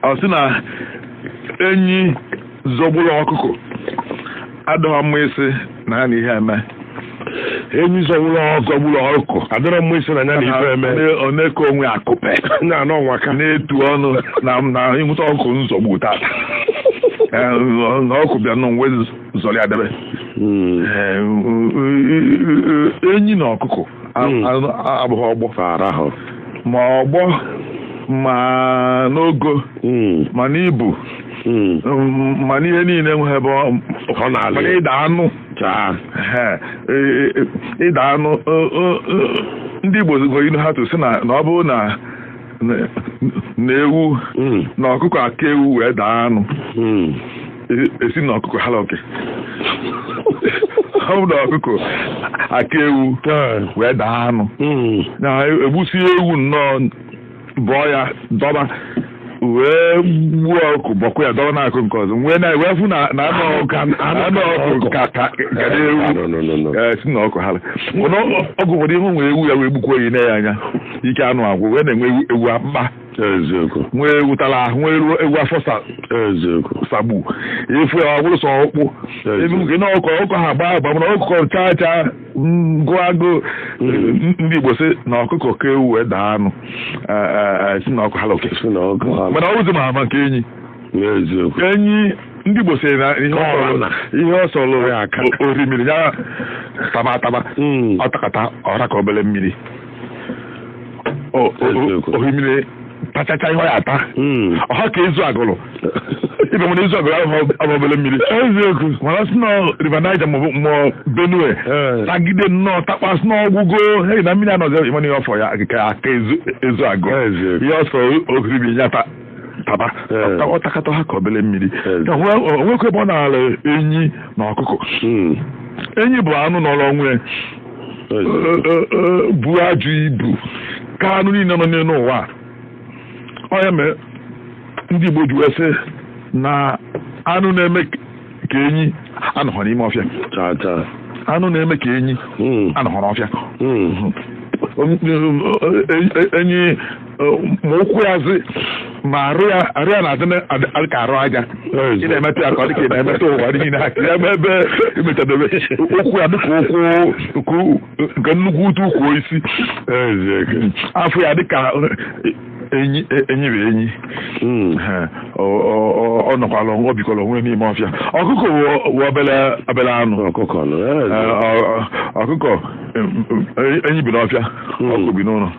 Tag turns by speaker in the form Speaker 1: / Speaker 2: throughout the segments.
Speaker 1: ọ sị na enyi zọgburu ọkụkọ adịghọ mma ịsị na ya na ihe eme enyi
Speaker 2: zọgburu zọgburu ọkụkọ adịrọ mma ịsị na ya na ife eme ọ na-eke
Speaker 1: onwe akupe na anọ nwa
Speaker 2: ka na-etu
Speaker 1: ọnụ na na ịnwụta ọkụkọ nzọgbu tata Eh, na ọkụ bịa nọ nwe zọrọ ya debe Eh, enyi na ọkụkọ Hmm. abụghị ọgbọ fara ahụ ma ọgbọ ma n'ogo hmm. ma n'ibu hmm. um, ma n'ihe niile enweghị ebe ọ na-ala ịda anụ e, e, e, ịda anụ ndị Igbo nwere inu ha tụ sị na ọ bụrụ na na ewu na ọkụkọ aka ewu wee daa anụ a sị na ọkụkọ hala oke ọ bụ na ọkụkọ aka ewu wee daa anụ na e gbusie ewu nnọọ bọọ ya dọba wee gbuo ọkụ bọkwuo ya dọba n'akụ nke ọzọ wee na wee fụ na na anụ ọkụ anụ ọkụ ka ka ka na ewu Eh, sị na ọkụ ha ọgụ ụfọdụ ihe nwere ewu ya wee gbukwuo ya i nee ya anya ike anụ agwụ wee na-enwe ewu- ewu akpụkpa eziokwu nwee ewu tara ahụ nwee ewu ewu afọ sa eziokwu sagbu ị fụ ya ọ bụrụ sọ ọkpụ Yes. ebe nke na ọkọ ọkọ ha gbaa agba mana ọkụkọ chaa chaa ngụ agụ Mm. ndị igbo sị na ọkụkọ ka ewu wee daa anụ Eh, eh, eh, sị na ọkụ hala oke sị na ọkụ ha mana ọ bụzi ma ama nke enyi eziokwu enyi ndị igbo sị na ihe ọ sọrọ- Ọna. ihe ọ sọrọ Ya aka. o- orimiri ya taba ataba Mm. ọ takata ọ ra ka obere mmiri O- o- Eziokwu. ohimiri tachacha ihe ọ ya-ata Mm. ọ ha ka Ezu Agụlụ ibe nwere Ezu Agụlụ ahụ abụ obere mmiri eziokwu mana sị na River Niger maọbụ mmụọ Benue Eh. tagide nnọọ takpasị n'ọgwụgo hei na mmiri anọzi ị mana ihe ọ fọ ya ka aka Ezu Ezu Agụlụ Eziokwu. ihe ọ sọ orimiri ya ta taba Eh. Ta- ọ takata ha ka obere mmiri Eh. Ya hụ- o nwekwa ebe ọ na-ala enyi na ọkụkọ Mm. enyi bụ anụ nọrọ onwe ya bu ajụ ibu ka anụ niile nọ n'elu ụwa ọ ya mere ndị Igbo ji wee sị na anụ na-eme ka enyi anọghọ n'ime ọfịa anụ na-eme ka enyi hmm. anọghọ n'ọfịa hmm. enyi ma ụkwụ ya zi ma arụ ya arụ ya na-adị na- adị- adị ka arụ aja ị na-emetụ ya ka ọ dị ka ị na-emetụ ụwa niile aka ya ma ebe imetadebe ụkwụ ya dịka ukwu nke u- nke nnukwu utu ukwu isi afọ ya dịka enyi enyi bụ enyi Ha, ọ- ọ- ọ- ọ nọkwala ọ bikwala onwe n'ime ọfịa ọkụkọ wụ- wụ obele obele anụ ọkụkọ nọ Ee, ọ- ọ- ọkụkọ em, em, enyi bi n'ọfịa ọkụkọ bi n'ụlọ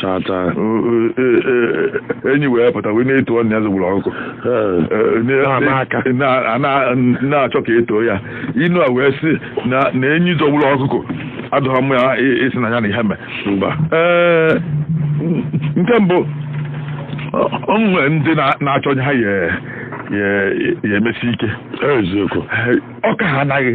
Speaker 1: tata enyi wee pụta wee na-etu ọnụ ya zogburu ọkụkọ na-achọ ka e too ya inu a wee sị na enyi zogburu ọkụkọ adọghọ m ya isi na ya na ihe mee nke mbụ o nwere ndị na-achọ onye ha ya emesi ike eziokwu ọka ha anaghị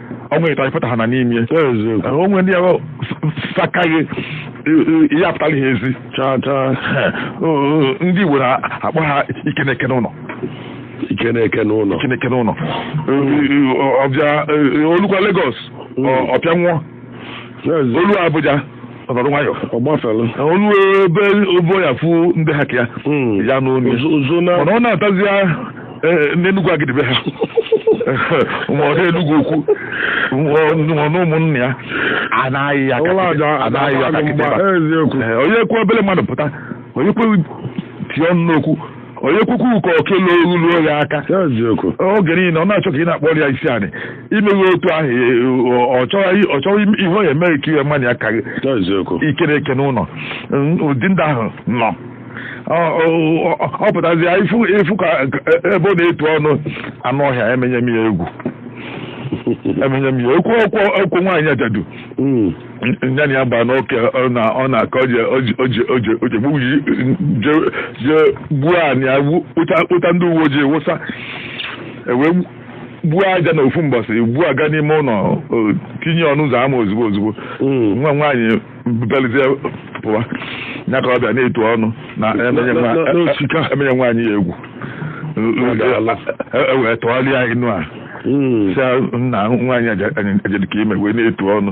Speaker 1: ọnwa ịta ịfụta ha na n'ime onwe ndị ahụ sakaghị ihe apụtara ihe ezi ndị Igbo na-akpọ ha ike na-eke n'ụlọ ike na-eke n'ụlọ ike na-eke n'ụlọ ọbịa o lukwa Lagos ọ pịanwụọ Yes. o lu Abuja ọ nọrọ nwayọ Ọ gbafere. o lu ebe obo ya fụ ndị ha ka ya Mm. ya n'onu ya. Ozo- ozo na- mana ọ natazịa eh, n'Enugwu Agidi be ha ma ọ na Enugwu Ukwu ma na ụmụnna ya anaghị ya Ụlọ aja kakịtị- anaghị ya adakwaghị kakịtị mgba. ebe a. Eziokwu. Eh, onye kwu obere mmadụ pụta onye kwe tie ọnụ n'okwu onye kwukwu uko okele o luo ya aka eziokwu oge niile ọ na-achọ ka ị na-akpọrọ ya isi anị i meghị otu ahụ e, ọ- ọ chọghị ọ chọghị im- ihe ọ ya emeghị ka iwe mmadụ ya ka gị eziokwu ike na-eke n'ụlọ Mm, ụdị ndị ahụ nọ Ọ- ọ- ọ- ọ pụtazịa ifu ifu ka ka- ebe ọ na-etu ọnụ anụ ọhịa emenye m ya egwu emenye m ya okwu okwu okwu nwaanyị ajadu Mm. nya na ya gba n'oke ọ na- ọ na-aka oje oje oje oje oje gbugbu ji je je gbuo anị ya gbu- kpụta kpụta ndị uwe ojii wụsa e wee gbuo aja na ofu mbọsị gbuo aga n'ime ụlọ o, tinye ọnụ ụzọ ama ozugbo ozugbo Mm. nwa nwaanyị belizie pụwa ya ka ọ bịa na-etu ọnụ na emenye nwa- Na- na- na- osika. emenye nwaanyị ya egwu e wee tụgharịa inu a hmm. sị na nwaanyị ajadu ka i mee wee na-etu ọnụ